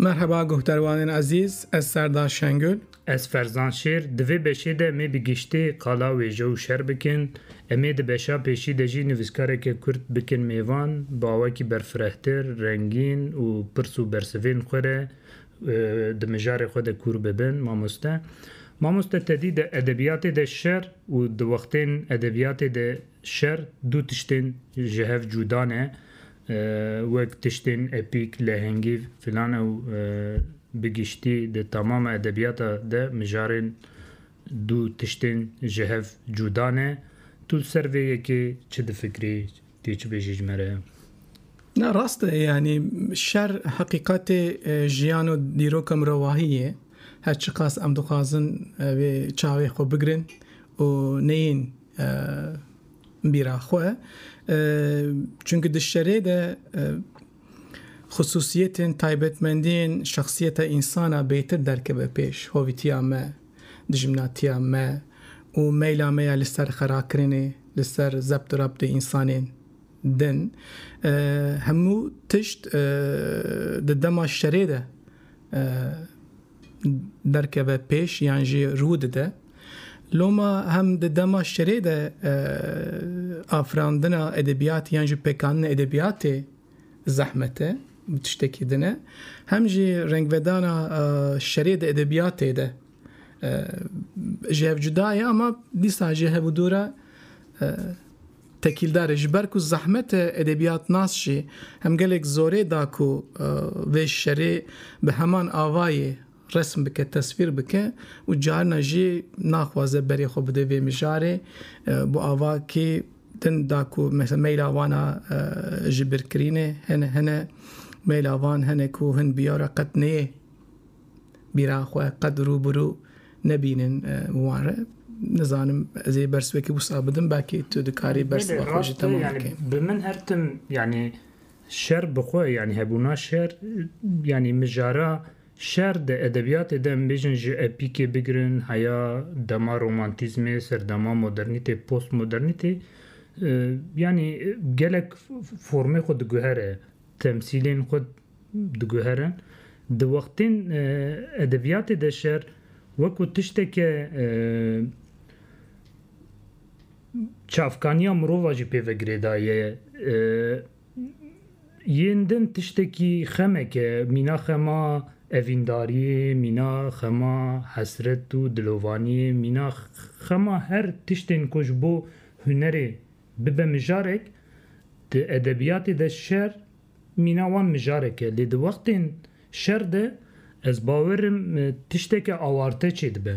Merheba guhdarwanên ezîz, ez Serdar Şengül. Ez Ferzan Şêr, di vê beşê de em ê bi giştî qala wêje û şer bikin. Em ê di beşa pêşî de jî nivîskareke Kurd bikin mêvan, bi awakî berfirehtir, rengîn û pirs û bersivên xwe re Di mijarê xwe de kûr bibin mamoste. Mamoste te dî de edebiyatê de şer û di wextên edebiyatê de şer du tiştên ji hev cûda ne wek tiştên epîk, lehengîv filan ew bi giştî di tamama edebiyata de mijarên du tiştên ji hev cûda ne. Tu li ser vê yekê çi difikirî? Tê çi bêjî ji me re? Na rast e yanî şer heqîqetê jiyan û dîroka mirovahî ye. Her çiqas em dixwazin vê çavê xwe bigirin û neyên bîra xwe. Çimkî di şerê de xisûsiyetên, taybetmendiyên şexsiyeta însan a bêtir derkeve pêş, hovîtiya me. dijminatiya me û meyla me ya li ser xerakirinê, li ser zebt û rabtê însanên din. Hemû tişt di dema şerê de derkeve pêş yan jî rû dide. Loma hem di dema şerê de afirandina edebiyatê yan jî pêkanina edebiyatê zehmet e, bi tiştekî din e. Hem jî rengvedana şerê di edebiyatê de ji hev cuda ye ama dîsa jî hev û dû re tekîldar e. Ji ber ku zehmet e edebiyatnas jî hem gelek zorê da ku vê şerê bi heman avayê Resm bike, teswîr bike û carina jî naxwaze berê xwe bide vê mijarê. Bi ava kê din da ku mesela meyla wan a ji bir kirînê hene hene meyla van hene ku hin biyara qet neyê bîra xwe qet rû bi rû nebînin wan re. Nizanim ez ê bers wekî wisa bidim belkî tu dikarî bers bi xwe jî temam bikî. Bi min her tim yanî şer bi xwe yanî hebûna şer yanî mijara Şer di edebiyatê de em bêjin ji epîkê bigirin heya dema romantîzmê, serdema modernîtê, postmodernîtê yanî gelek formê xwe diguhere, temsîlên xwe diguhere. Di wextên edebiyatê de şer wekû tişteke çavkaniya mirova jî pê ve girêdayî ye. Yên din tiştekî xemek e, mîna xema evîndariyê, mîna xema hesret û dilovaniyê, mîna xema her tiştên ku ji bo hunerê bibe mijarek, di edebiyatê de şer mîna wan mijarek e. Lê di wextên şer de ez bawer im tişteke awarte çêdibe.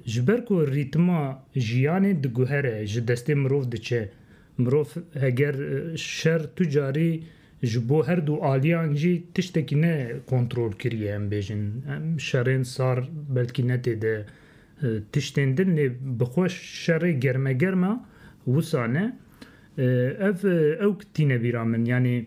Ji ber ku rîtima jiyanê diguhere, ji destê mirov diçe. Mirov heger şer tu carî ji bo her du aliyan jî tiştekî ne kontrol kiriye em bêjin em şerên sar belkî ne tê de tiştên din lê bi xwe şerê germegerma wisa ne ev ewk tîne bîra min yanî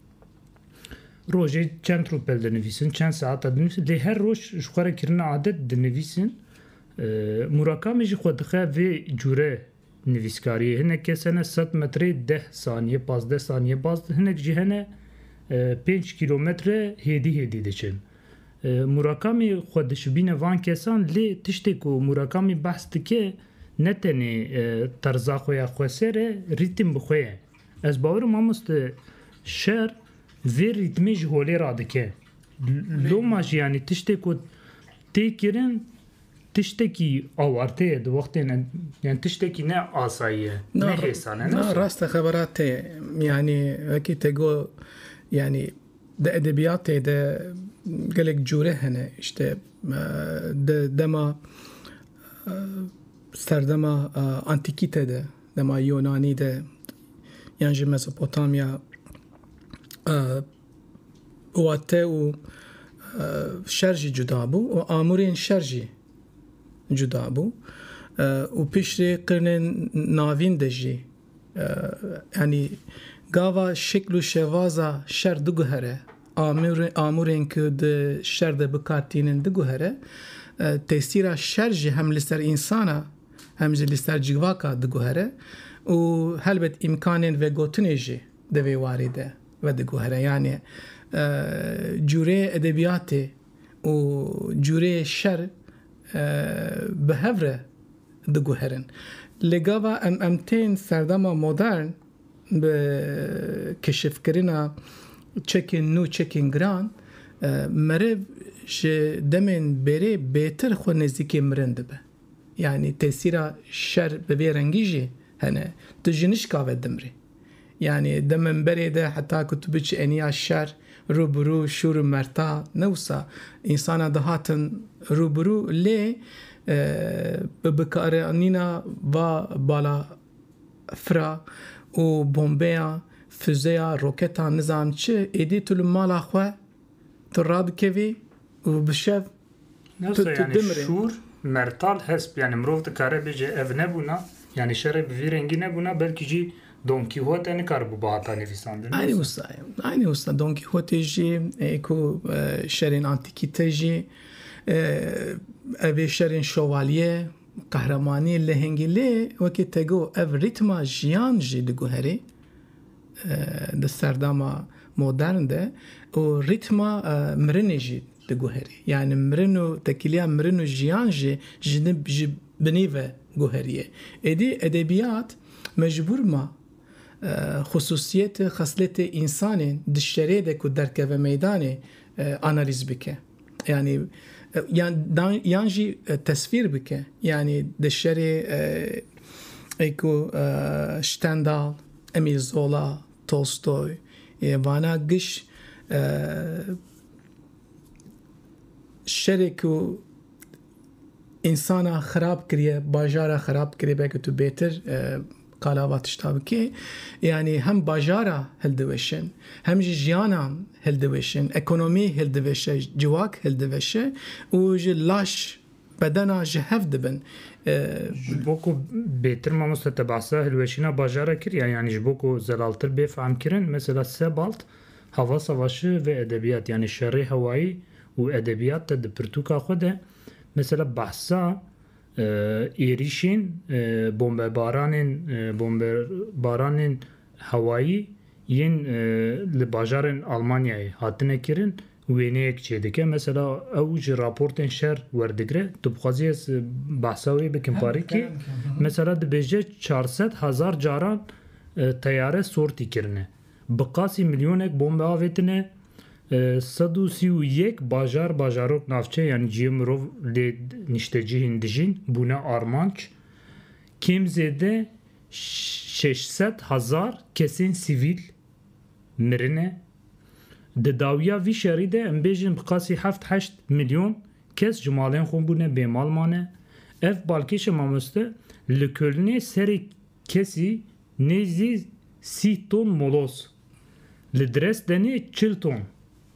Rojê çend rûpel dinivîsin, çend saeta dinivîsin lê her roj ji xwe re kirina adet dinivîsin. Murakamî jî xwe dixe vê cûre nivîskariyê. Hinek kes hene sed metrê deh saniye pazdeh saniye baz din. Hinek jî hene pênc kîlometre hêdî hêdî diçin. Murakamî xwe dişibîne van kesan lê tiştê ku Murakamî behs dike ne tenê terza xwe ya xweser e, rîtîm bi xwe ye. Ez bawerim mamoste şer vê rîtmê ji holê re dike. Loma jî yanî tiştê ku tê kirin tiştekî awarte ye di wextên yani tiştekî ne asayî ye. Ne hêsan e. Na rast e xebera te ye. Yanî wekî te got yanî di edebiyatê de gelek cûre hene işte di dema serdema antîkîte de Dema Yonanî de yan ji Mezopotamya wate û şer jî cuda bû û amûrên şer jî cuda bû û piştî qirnên navîn de jî yanî gava şekl û şevaza şer diguhere amûrên ku di şer de bikar tînin diguhere tesîra şer jî hem li ser însana hem jî li ser cîvaka diguhere û helbet îmkanên vegotinê jî di vê warî de vediguhere. Yanê cûrê edebiyatê û cûrê şer bi hev re diguherin. Lê gava em em tên serdema modern bi keşifkirina çekên nû, çekên giran meriv ji demên bêrê bêtir xwe nêzîkê mirin dibe. Yanî tesîra şer bi vê rengî jî hene. Tu ji nişka ve dimrî. Yanî di minberê de heta ku tu biçî eniya şer, rûbirû, şûr û merta ne wisa însanan dihatin rûbirû lê bi bikaranîna va balafira û bombeyan, fizeya, roketan nizam çi êdî tu li mala xwe, Tu radikevî û bi şev tu tu dimrê. Şûr, mertal, hesp yanî mirov dikare bêje ev nebûna, yanî şerê bi vî rengî nebûna belkî jî Don Kîhote nikaribûba hata nivîsandin. Eynî wisa ye. Eynî wisa Don Kîhotê jî ê ku şerên antîkî te jî evê şerên şovalye, qehremanî, lehengî lê wekî te got ev rîtma jiyan jî diguherî. di serdama modern de û rîtma mirinê jî diguherî. Yanî mirin û tekîliya mirin û jiyan jî ji binî ve guheriyê. Êdî edebiyat mecbûr ma xusûsiyet û xesletê însanên di şerê de ku derkeve meydanê analîz bike. yanî yan dan yan jî tesvîr bike yanî di şerê êku Stendal, Emîl Zola, Tolstoy yê vana giş şerê ku Însana xirab kiriye, bajara xirab kiriye belkî tu bêtir qala va tişta bikî. Yanî hem bajara hildiweşin, hem jî jiyanan hildiweşin, ekonomî hildiweşe, ciwak hildiweşe û ji laş bedena ji hev dibin. Ji bo ku bêtir mamoste te behsa hilweşîna bajara kiriye, yanî ji bo ku zelaltir bê fehmkirin, mesela Sebalt Hava Savaşi vê edebiyat yanî şerê hewayî û edebiyat de di pirtûka xwe de mesela behsa êrîşên bombebaranên bombebaranên hewayî yên li bajarên Almanyayê hatine kirin wêneyek çêdike. Mesela ew ji raportên şer werdigire. Tu bixwazî ez behsa wê bikim parîkê. Mesela dibêje çar sed hezar caran teyare sortî kirine. Bi qasî milyonek bombe avêtine, sed û sî û yek bajar, bajarok, navçe yan cihê mirov lê niştecihên dijîn bûne armanc. Kêm zêde şeş sed hezar kesên sivîl mirine. Di dawiya vî şerî de em bêjin bi qasî heft heşt milyon kes ji malên xwe bûne bêmal mane. Ev balkêşa mamoste li Kölnê serê Kesî nêzdî sîh ton molos li Dresdenê çil ton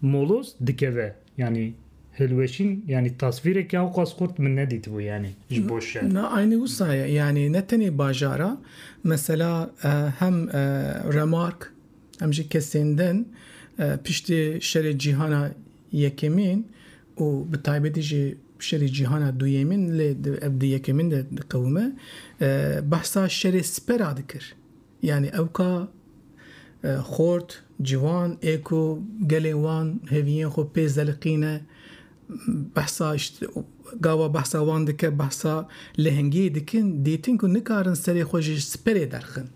molos dikeve yanî hilweşîn yanî tasvîreke ewqas xurt min nedîtibû yanî ji bo şer. Na aynî wisa ye yanî ne tenê bajar a mesela hem remark hem jî kesên din piştî şerê cîhana yekemîn û bi taybetî jî şerê cîhana duyêmîn lê ev di yekemîn de diqewime behsa şerê siper a dikir yanî ew ka xort, ciwan ê ku gelên wan hêviyên xwe pê zeliqîne behsa gava behsa wan dike behsa lehengiyê dikin dîtin ku nikarin serê xwe ji siperê derxin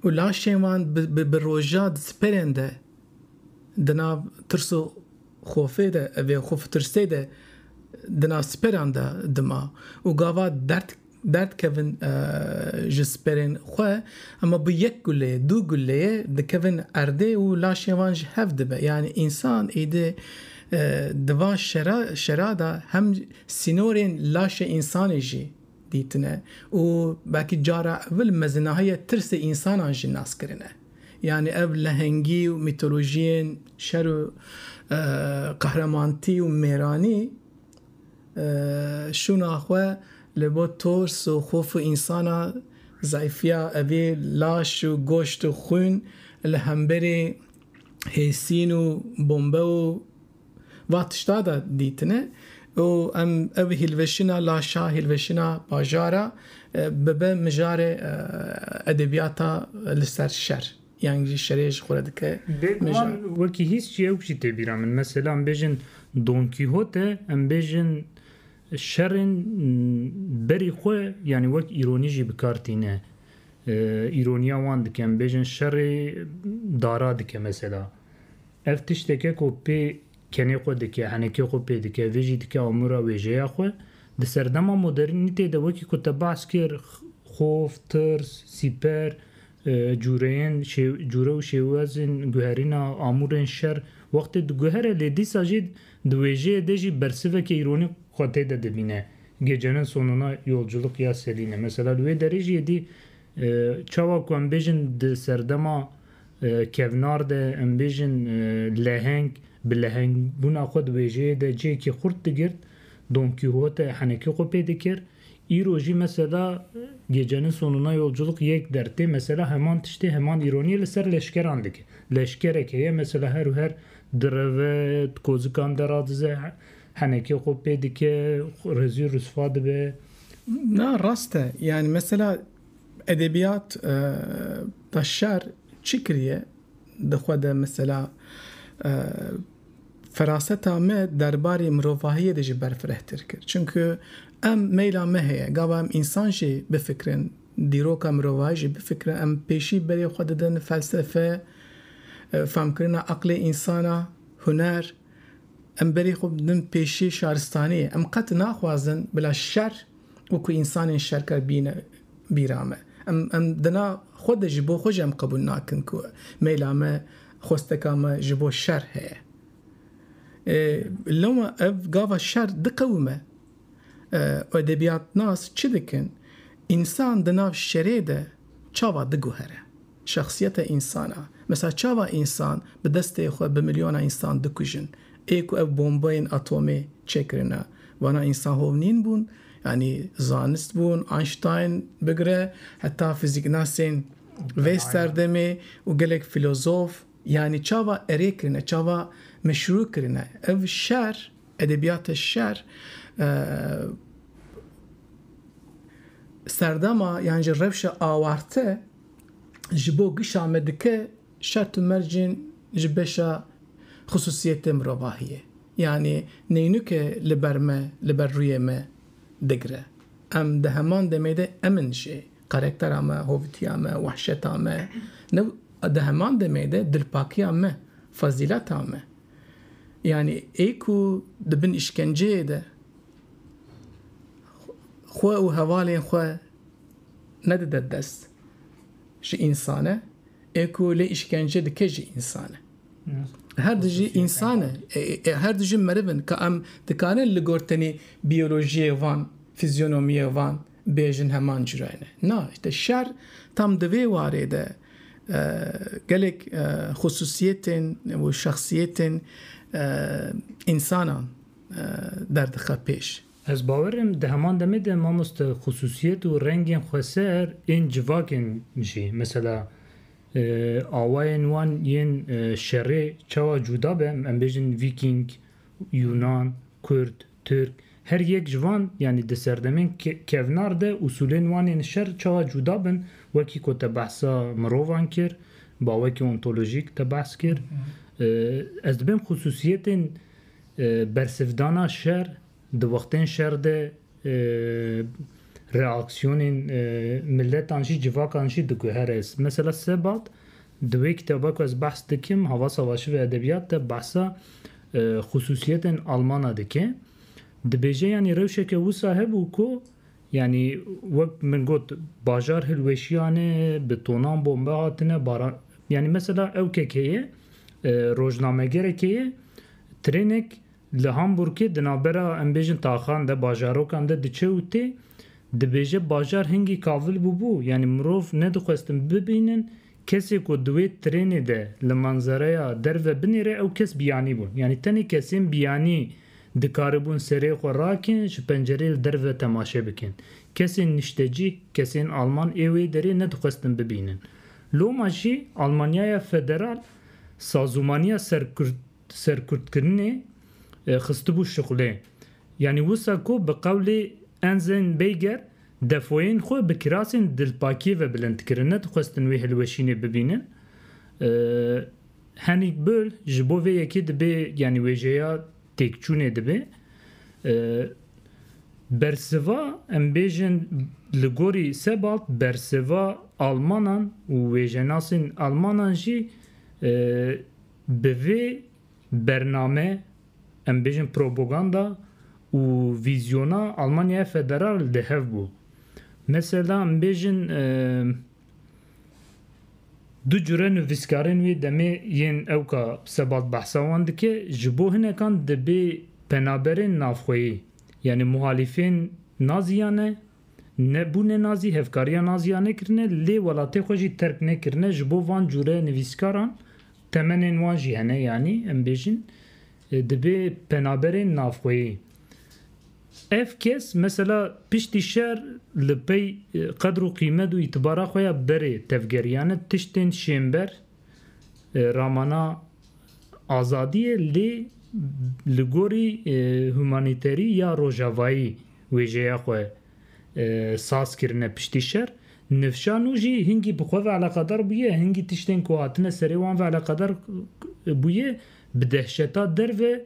û laşên wan bi roja di siperên de di nav tirs û Xofê de evê xo fitirsê de dina siperan de dima û gava derd derd kevin ji siperên xwe hema bi yek gulê du guleyê dikevin erdê û laşên wan ji hev dibe yanî însan êdî di van şera şera de hem sînorên laşê însanê jî dîtine û belkî cara evil mezinahiyê tirsê însanan jî nas kirine. Yanî ev lehengî û mîtolojiyên şer û qehremanitî û mêranî şûna xwe li bo tors û xof û însana zayfiya evî laş û goşt û xwîn li hemberî hêsîn û bombe û Va tişta da dîtine û em ev hîlveşîna laşa, hîlveşîna bajara bibe mijarê edebiyata li ser şer yan jî şerê ji xwe re dike mijar. Bêguman wekî hîs jî ewk jî tê bîra min. Mesela em bêjin Don Kîhote em bêjin şerên berî xwe yanî wek îronî jî bikar tîne. Îroniya wan dike em bêjin şerê dara dike mesela. Ev tiştek e ku pê kenê xwe dike, henekê xwe pê dike, vê jî dike amûra wêjeya xwe. Di serdema modernîtê de wekî ku te behs kir xof, tirs, sîper, cûreyên cûre û şêwazên guherîna amûrên şer wextê diguhere lê dîsa jî di wêjeyê de jî bersiveke îronî xwe tê de dibîne. Gecenin sonuna yolculuk ya Selîne mesela li wê derê jî êdî çawa ku em bêjin di serdema Kevnar de em bêjin leheng bi lehengbûna xwe di wêjeyê de cihekî xurt digirt, Don Kîhote henekî xwe pê dikir. Îro jî mesela Gecenin sonuna yolculuk yek der tê mesela heman tiştê heman îronî li ser leşkeran dike. Leşkerek heye mesela her û her direve, di kozikan de radize, henekî xwe pê dike, rizî risva dibe. Na rast e. Yanî mesela. Edebiyat beşer çi kiriye di xwe de mesela feraseta me derbarê mirovahiyê de jî berfirehtir kir. Çimku em meyla me heye gava em însan jî bifikirin, dîroka mirovahî jî bifikirin. Em pêşî berê xwe didin felsefe, famkirina eqlê însan a, huner. Em berê xwe didin pêşî şaristaniyê. Em qet naxwazin bila şer û ku însanên şerker bîne bîra me. Em em dina xwe de ji bo xwe jî em qebûl nakin ku mêla me, xwesteka me ji bo şer heye. Ê loma ev gava şer diqewime. Û edebiyatnas çi dikin? Însan di nav şerê de çawa diguhere? Şexsiyeta însan a. Mesela çawa însan bi destê xwe bi milyona însan dikujin. Ê ku ev bombeyên atomê çêkirine vana însan hov nîn bûn. Yanî zanist bûn Einstein bigire heta fizîknasên vê serdemê û gelek filozof yanî çawa erê kirine çawa meşrû kirine. Ev şer edebiyata şer serdema yan jî rewşa awarte ji bo gişa me dike şert û mercên ji beşa xisûsiyetê mirovahiyê yanî neynuke li ber me li ber rûyê me digre. Em di heman demê de em in jî karektera me, hovitiya me, wehşeta me ne û di heman demê de dilpakiya me, fezîleta me. Yanî ê ku di bin îşkenceyê de xwe û hevalên xwe, nedide dest ji însan e, ê ku lê îşkence dike jî însan e. Her di jî însan e, her di jî meriv in ka em dikarin li gor tenê biyolojiyê van, fizyonomiyê van bêjin heman curayê ne. Na, işte şer tam di vê warê de gelek xusûsiyetên û şexsiyetên însanan derdixwe pêş. Ez bawerim di heman demê de mamoste xususiyet û rengên xweser ên civakên jî mesela awayên wan yên şerê çawa cuda be em bêjin vîkîng, yunan, kurd, tirk her yek ji van yanî di serdemên kevnar de usûlên wan ên şer çawa cuda bin wekî ku te behsa mirovan kir bawekî ontolojîk te behs kir ez dibêm xususiyetên Bersivdana şer, di wextên şer de reaksiyonên miletan jî civakan jî diguhere. Mesela Sebat di wê kitaba ku ez behs dikim Hava Savaşı ve Edebiyat de behsa xusûsiyetên Almana dike. Dibêje yanî rewşeke wisa hebû ku yanî wek min got bajar hilweşiyane, bi tonan bombe hatine baran yanî mesela ew kekê ye rojnamegerekê ye, Trênek li Hamburgê di navbera em bêjin taxan de, bajarokan de diçe û tê. Dibêje bajar hingî kavil bûbû, yanî mirov nedixwestin bibînin kesê ku di wê trênê de li manzereya derve binêre ew kes biyanî bûn. Yanî tenê kesên biyanî dikaribûn serê xwe rakin ji pencereyê li derve temaşe bikin. Kesên niştecîh, kesên alman ê wê derê nedixwestin bibînin. Loma jî Almanyaya Federal sazûmaniya serkurdkirinê xistibû şuxlê. Yanî wisa ku bi qewlê Enzên Beyger defoyên xwe bi kirasên dilpakiyê ve bilind kirin, ne dixwestin wê hilweşînê bibînin. Henîk Böll ji bo vê yekê dibê yanî wêjeya Têkçûnê dibe bersiva em bêjin li gorî Sebald bersiva almanan û wêjenasên almanan jî bi vê bername em bêjin propaganda û vîzyona Almanyaya Federal di hev bû. Mesela em bêjin. Du cure nivîskarên wê demê yên ewka Sebat behsa wan dike, ji bo hinekan dibê penaberên navxweyî yanî muhalîfên Nazî ya ne, nebûne Nazî, hevkariya Nazî ya nekirine lê welatê xwe jî terk nekirine ji bo van cure nivîskaran temenên wan jî hene yanî em bêjin dibê penaberên navxweyî. Ev kes mesela piştî şer li pey qedr û qîmet û îtibara xwe ya berê tevgeriyane tiştên şênber ramana azadiyê lê li gorî humanîterî ya rojavayî wêjeya xwe saz kirine piştî şer. Nifşa nû jî hingî bi xwe ve eleqedar bûye, hingî tiştên ku hatine serê wan ve eleqedar bûye bi dehşeta derve,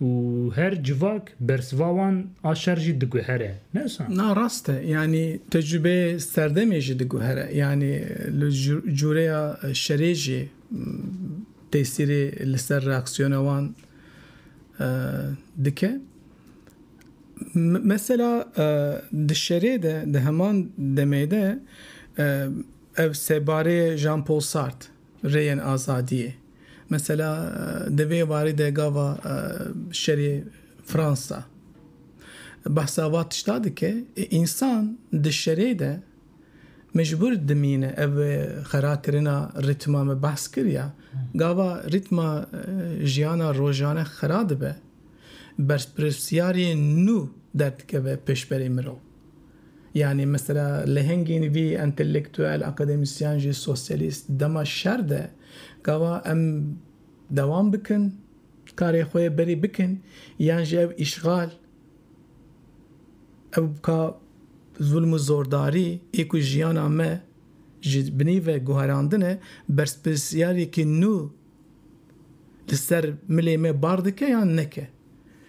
Û her civak bersiva wan a şer jî diguhere, ne wisa? Na rast e. Yanî tecrûbeyê serdemê jî diguhere. Yanî li cûreya şerê jî tesîrê li ser reaksiyona wan dike. Mesela di şerê de, di heman demê de ev sebarê Jean Paul Sartre, rêyên azadiyê, Mesela di vê warî de gava şerê Fransa behsa va tişta dike, însan di şerê de mecbûr dimîne. Ev xerakirina rîtma me behs kiriya. Gava rîtma jiyana rojane xera dibe, berpirsiyariyên nû derdikeve pêşberî mirov. Yanî mesela lehengên vî entelektuel, akademisyen jî sosyalîst dema şer de gava em dewam bikin karê xwe yê berî bikin yan jî ev îşxal ew ka zûlm û zordarî ê ku jiyana me ji binî ve guherandine bersprsyarêkî nû Li ser milê me bar dike yan neke?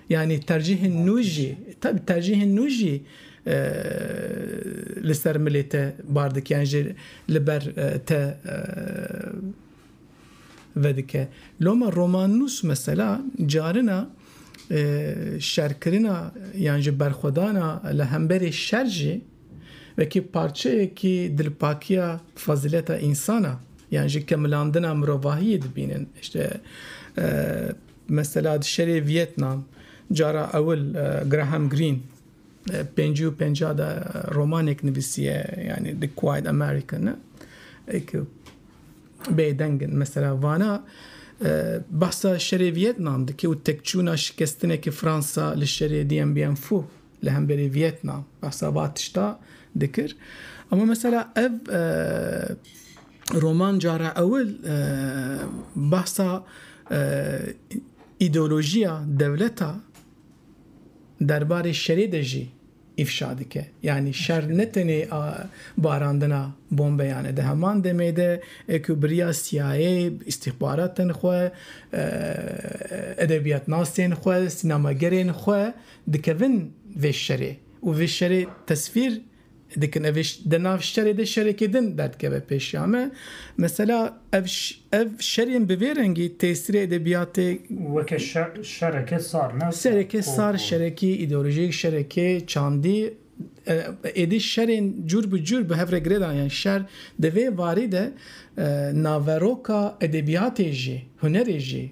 Yanî tercîhên nû jî tabi tercîhên nû jî li ser milê te bar dike yan jî li ber te vedike. Loma romannûs mesela carina şerkirina yan jî berxwedana li hemberî şer jî, Wekî parçeyekî dilpakiya fezîleta însan a yan jî kemilandina mirovahiyê dibînin. Îşte mesela di şerê Vîetnam cara ewil Graham Greene pêncî û penca de romanek nivîsiye yanî The Quiet American e eke bêdeng in. Mesela vana behsa şerê Vîetnam dike û tekçûna şikestinekî Fransa li şerê Dien Bien Phu li hemberî Vietnam behsa va tişta dikir. Ama mesela ev roman cara ewil behsa îdeolojiya dewleta derbarê şerê de jî îfşa dike. Yanî şer ne tenê barandina bombeyan e. Di heman demê de ku biriya CIA, îstîxbaratên xwe, edebiyatnasên xwe, sînemagerên xwe Dikevin vê şerê û vê şerê tesvîr dikin. Ev ê di nav şerê de şerekê din derdikeve pêşiya me. Mesela ev ev şerên bi vê rengî têsirê edebiyatê. Weke şereke sar ne? Sereke sar, şerekî îdeolojîk, şerekê çandî. Êdî şerên cûr bi cûr bi hev re girêdan yan şer di vê varî de naveroka edebiyatê jî, hunerê jî.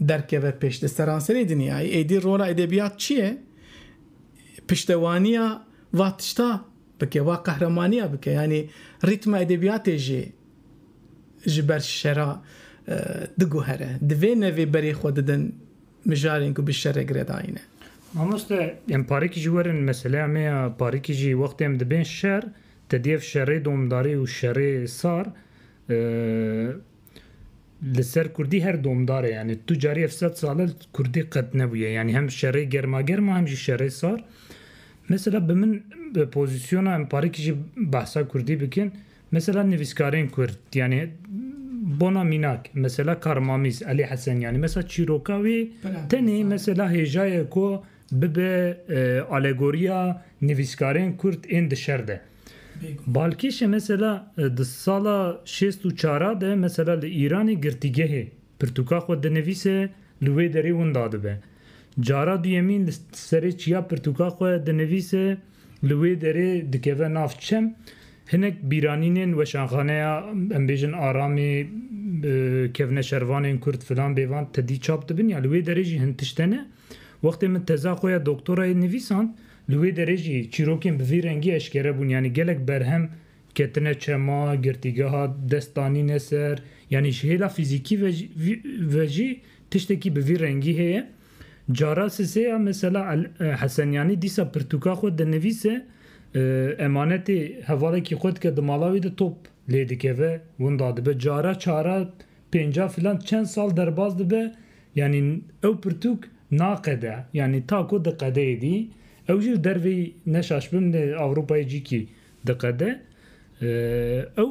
derkeve pêş. Li seranserî dinyayê êdî rola edebiyat çi ye? Piştewaniya va tişta bike, va qehremaniya bike. Yanî rîtma edebiyatê jî ji ber şera diguhere. Di vê nevê berê xwe didin mijarên ku bi şerê giredayîne. Mamoste em parikî jî werin meseleya me ya parikî jî wextê em dibên şer tedî ev şerê domdarî û şerê sar Li ser kurdî her domdar e yanî tu carî ev sed sal e kurdî qet nebûye yanî hem şerê germa germa hem jî şerê sar. Mesela bi min bi pozîsyona em parêkî jî behsa kurdî bikin mesela nivîskarên kurd yanî bona mînak mesela Karmamîz Elî Hesen yanî mesela çîroka wî tenê mesela hêja ye ku bibe alegoriya nivîskarên kurd ên di şer de. Balkêşê mesela di sala şêst û çar a de mesela li Îranê girtîgehê pirtûka xwe dinivîse li wê derê winda dibe. Cara duyemîn li serê çiya pirtûka xwe dinivîse. Li wê derê dikeve nav çem hinek bîranînên weşanxaneya em bêjin Aramê, kevne şervanên Kurd filan bêvan tedî çap dibin ya li wê derê jî hin tişt hene. Wextê min teza xwe ya doktorayê nivîsand li wê derê jî çîrokên bi vî rengî eşkere bûn yanî gelek berhem ketine çema, girtîgeha dest danîne ser yanî ji hêla fîzîkî ve jî tiştekî bi vî rengî heye. Cara sisê ya mesela El Hesenyanî dîsa pirtûka xwe dinivîse, emanetê hevalekî xwe dike di mala wî de top lê dikeve winda dibe. Cara çara pênca filan çend sal derbas dibe yanî ew pirtûk naqede. Yanî ta ku di qedeyê dî ew jî li derveyî neşaşibin li Ewropayê cîkî Diqede, ew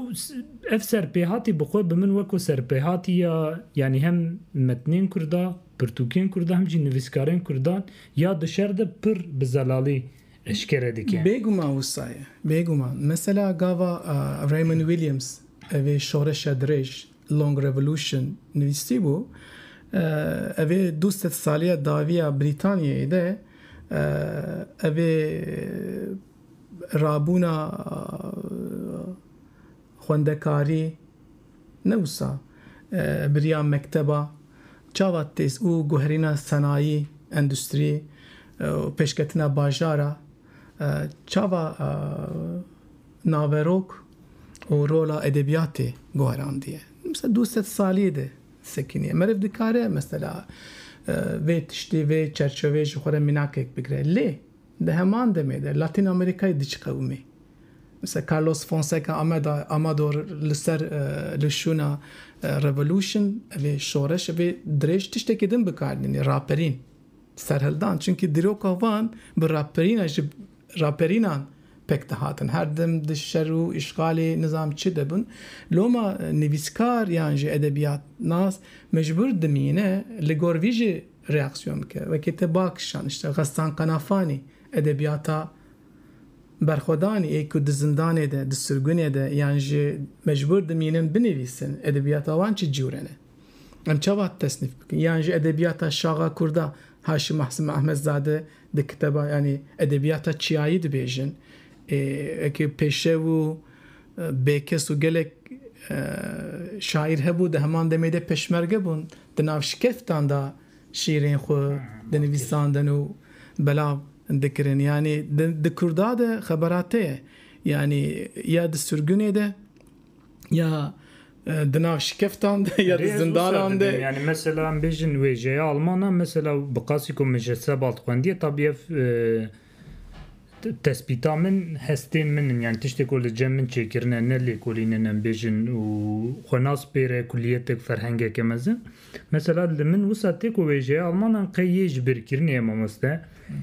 ev serpêhatî bi xwe bi min weko serpêhatî ya yanî hem metnên kurda, pirtûkên kurda hem jî nivîskarên kurdan ya di şer de pir bi zelalî eşkere dike. Bêguman wisa ye, bêguman. Mesela gava Raymond Williams ev ê Şoreşa Dirêj, Long Revolution, nivîsîbû, ev ê du sed saliya dawiya Brîtanyayê de ev ê Rabûna xwendekarî ne wisa biriya mekteba çawa têz û guherîna senayî, endustrî û pêşketina bajara çawa naverok û rola edebiyatê guherandiye. Misa du sed salî de sekiniye. Meriv dikare mesela vê tiştî, vê çerçeveyê ji xwe re mînakek bigire. Lê. Di heman demê de Latîn Amerîkayê dî çi qewimî? Misal Carlos Fonseca Ameda Amador li ser li şûna revolution evê şoreş evê dirêj tiştekî din bi kar dînî raperîn serhildan çunkî dîroka van bi raperîna ji raperînan pek dihatin her dem di şer û îşxalê nizam çi de bûn loma nivîskar yan jî edebiyatnas mecbûr dimîne li gor vî jî Reaksiyon bike. Wekî te ba kişand îşte Xestan Qenafanî, edebiyata berxwedanî ê ku di zindanê de, di sirgunê de yan jî mecbûr dimînin binivîsin, edebiyata wan çi cure ne? Em çawa tesnîf bikin? Yan jî edebiyata şaxa kurda Haşim Ahsim Ahmedzade di kiteba yanî edebiyata çiyayî dibêjin ê wekî pêşew û Bêkes û gelek şaîr hebû di heman demê de peşmerge bûn, di nav şikeftan de şîrên xwe dinivîsandin û belav dikirin. Yanî di Kurda de xebera te ye. Yanî ya di sirgunê de ya di nav şikeftan de ya di zindanan de. Yanî mesela em bêjin wêjeya alman a mesela bi qasî ku min ji Sebald xwendiye tabî ev Tespîta min hestên min in yani tiştê ku li cem min çêkirine ne lêkolîn in em bêjin û xwe nas pêre kulîyetek ferhengeke mezin. Mesela li min wisa tê ku wêjeya Almanan qey yê ji bêrkirinê ye mamoste.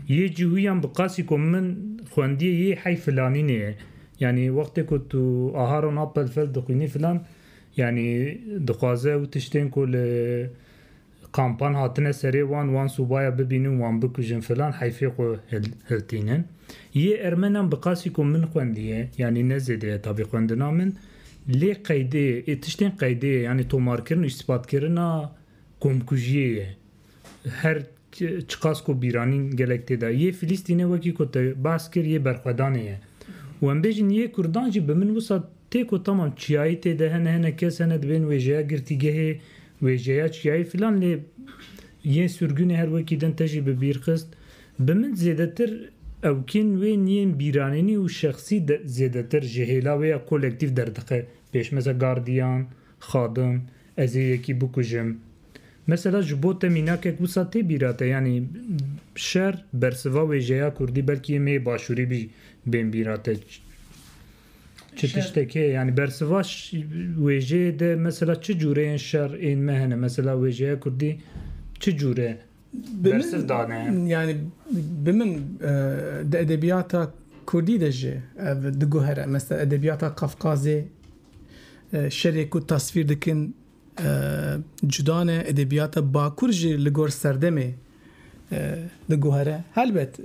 Yê cîhûyan bi qasî ku min xwendiyê yê hey filanînê ye. Yani wextê ku tu Aharon Appelfeld dixwînî filan yani dixwaze ew tiştên ku li Kampan hatine serê wan, wan sobaya bibînin, wan bikujin filan heyfê xwe hiltînin. Yê ermenan bi qasî ku min xwendiye, yanî ne zêde ye tabî xwendina min, lê qeydê yê, tiştên qeydê yê, yanî tomarkirin û îstîpatkirina komkujiyê ye. Her çiqas ku bîranîn gelek tê de. Yê Filîstînê wekî ku te behs kir yê berxwedanê ye. Û em bêjin yê kurdan jî bi min wisa tê ku tamam çiyayî tê de hene, hene kes hene dibên wêjeya girtîgehê Wêje ya çiyayê filan lê yên surgunê her wekî din te jî bi bîr xist. Bi min zêdetir ewkên wê yên bîranînî û şexsî zêdetir ji hêla wê ya kolektîf derdixe. Pêşmeza gardiyan, xadim, ez ê yekî bikujim. Mesela ji bo te mînakek wisa tê bîra te yanî şer bersiva wêjeya kurdî belkî yê mêyê başûrî bî bên bîra te. Çi tiştekê yanî bersiva wêjeyê de mesela çi cûreyên şer ên me hene? Mesela wêjeya kurdî çi cûre bersiv dane? Yanî bi min di edebiyata kurdî de jî ev diguhere. Mesela edebiyata Kafkazê şerê ku tasvîr dikin Cuda ne edebiyata bakur jî li gor serdemê diguhere. Helbet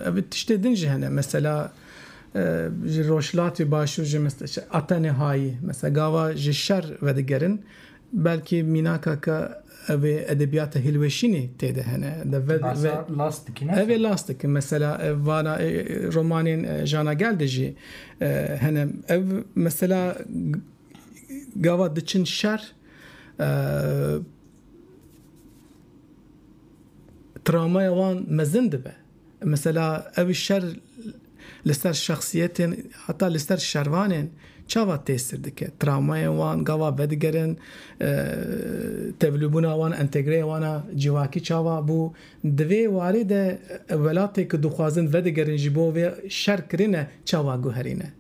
ev tiştê din jî hene. Mesela ji rojhilatê başûr jî Atenê Hayî mesela gava ji şer vedigerin belkî mînaka ka ev ê edebiyata hilweşînê tê de hene. Ev ê last dikin. Mesela vana romanên Jana Gel de jî hene. Ev mesela Gava diçin şer travmaya wan mezin dibe. Mesela ew şer li ser şexsiyetên heta li ser şervanên çawa tesir dike? Travmayên wan gava vedigerin, tevlûbûna wan, entegreya wan a civakî çawa bû? Di vê warê de welatê ku dixwazin vedigerin ji bo vê şer kirine çawa guherîne?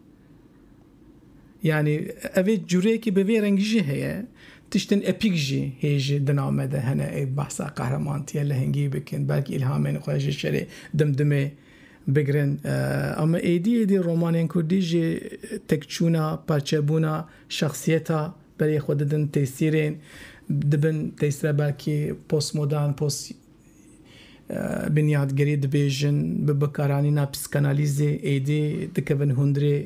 Yanî evê cureyekî bi vê rengî jî heye. Tiştên epîk jî hê ji dina me de hene ê behsa qehremantiya lehengî bikin, belkî îlhamên xwe ji şerê dimdimê bigirin. Ama êdî êdî romanên kurdî ji tekçûna, parçebûna şexsiyeta berê xwe didin têsîrên, dibin têsîra belkî postmodern, post Binyatgerî dibêjin, bi bikaranîna psîkanalîzê êdî dikevin hundirê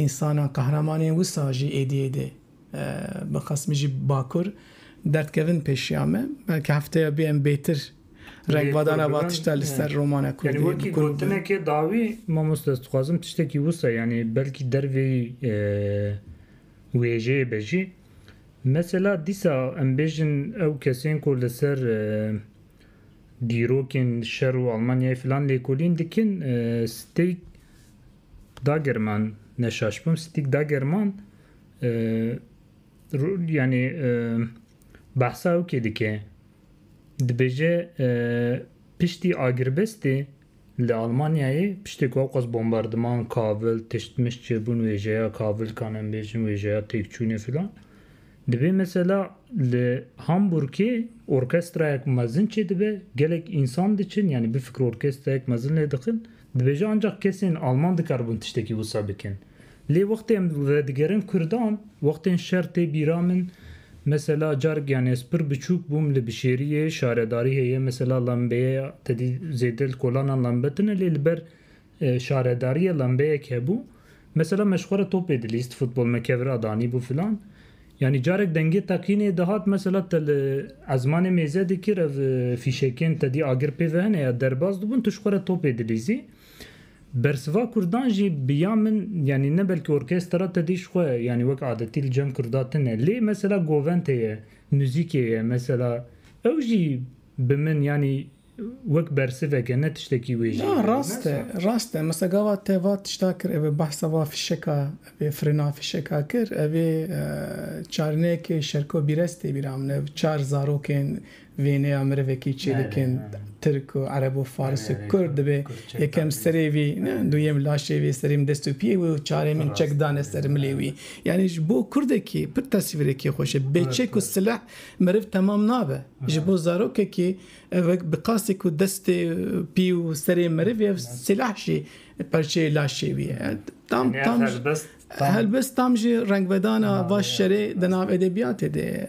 însanan qehreman ên wisa jî êdî êdî bi qas min jî bakur derdkevin pêşiya me. Belkî hefteya bê em bêtir rengvadana va tişta li ser romana kurdî bi kûr bibin. Yanî wekî gotinekê dawî mamoste ez dixwazim tiştekî wisa yanî belkî derveyî wêjeyê be jî Mesela dîsa em bêjin ew kesên ku li ser dîrokên şer û Almanyayê filan lêkolîn dikin, Stig Dagerman, ne şaş bim, Stig Dagerman yanî behsa ew kê dike, dibêje piştî agirbestê Li Almanyayê piştî ku ewqas bombardiman, kavil, tişt mişt çêbûn wêjeya kavilkan em bêjin wêjeya têkçûnê filan dibê mesela li Hamburgê orkestrayek mezin çêdibe gelek însan diçin yanî bifikre orkestrayek mezin lê dixin dibêje ancax kesên Alman dikaribûn tiştekî wisa bikin Lê wextê em redigerin kurdan, wextên şer tê bîra min, mesela carek yanî ez pir biçûk bûm li bişêriyê şaredarî heye mesela lembeyeya tedî zêde li kolanan lembe tune lê li ber şaredariyê lembeyek hebû mesela me ji xwe re topê dilîst futbol me kev ra danîbû filan yanî carek dengê teqînê dihat mesela te li ezmanê mêze dikir ev fîşekên tedî agir pê ve hene ya derbas dibûn tu ji xwe re topê dilîzî Bersiva kurdan jî bi ya min yanî ne belkî orkestra te dîş xwe yanî wek adetî li cem kurda tine lê mesela goventê ye, muzîkê ye mesela ew jî bi min yanî wek bersivek e ne tiştekî wê jî Na rast e, rast e. Mesela gava te va tişta kir ev ê behsa va fîşeka ev ê firina fîşeka kir ev ê çarineyekê şerko bîrez tê bîra min ev çar zarokên Vêneya mirivekî çêlikên tirk û ereb û fars û kurd dibê, yekem serê wî, duyem laşê wî, serêm dest û piyê wî û çarêmin çek dane ser milê wî. Yanî ji bo kurdekî pir teswîrekî xweş e. Bê çek û sileh meriv temam nabe. Ji bo zarokekî ev wek bi qasî ku destê pî û serê meriv e ev sileh jî perçeyê laşê wî ye. Tam tam helbest tam jî rengvedana va şerê di nav edebiyatê de ye.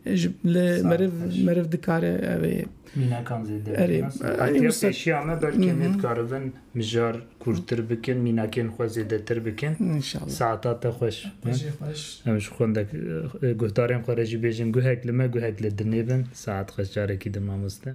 Ji li meriv meriv dikare ev ê. Mînekan zêde. Erê. Partiya pêşiya me belkê nê dikaribin mijar kûrtir bikin, mînakên xwe zêdetir bikin. Înşallah. Saeta te xweş. Te jî xweş. Em ji xwendek guhdarên xwe re jî bêjin guhek li me guhek li dinê bin. Saet xweş carekî din mamoste.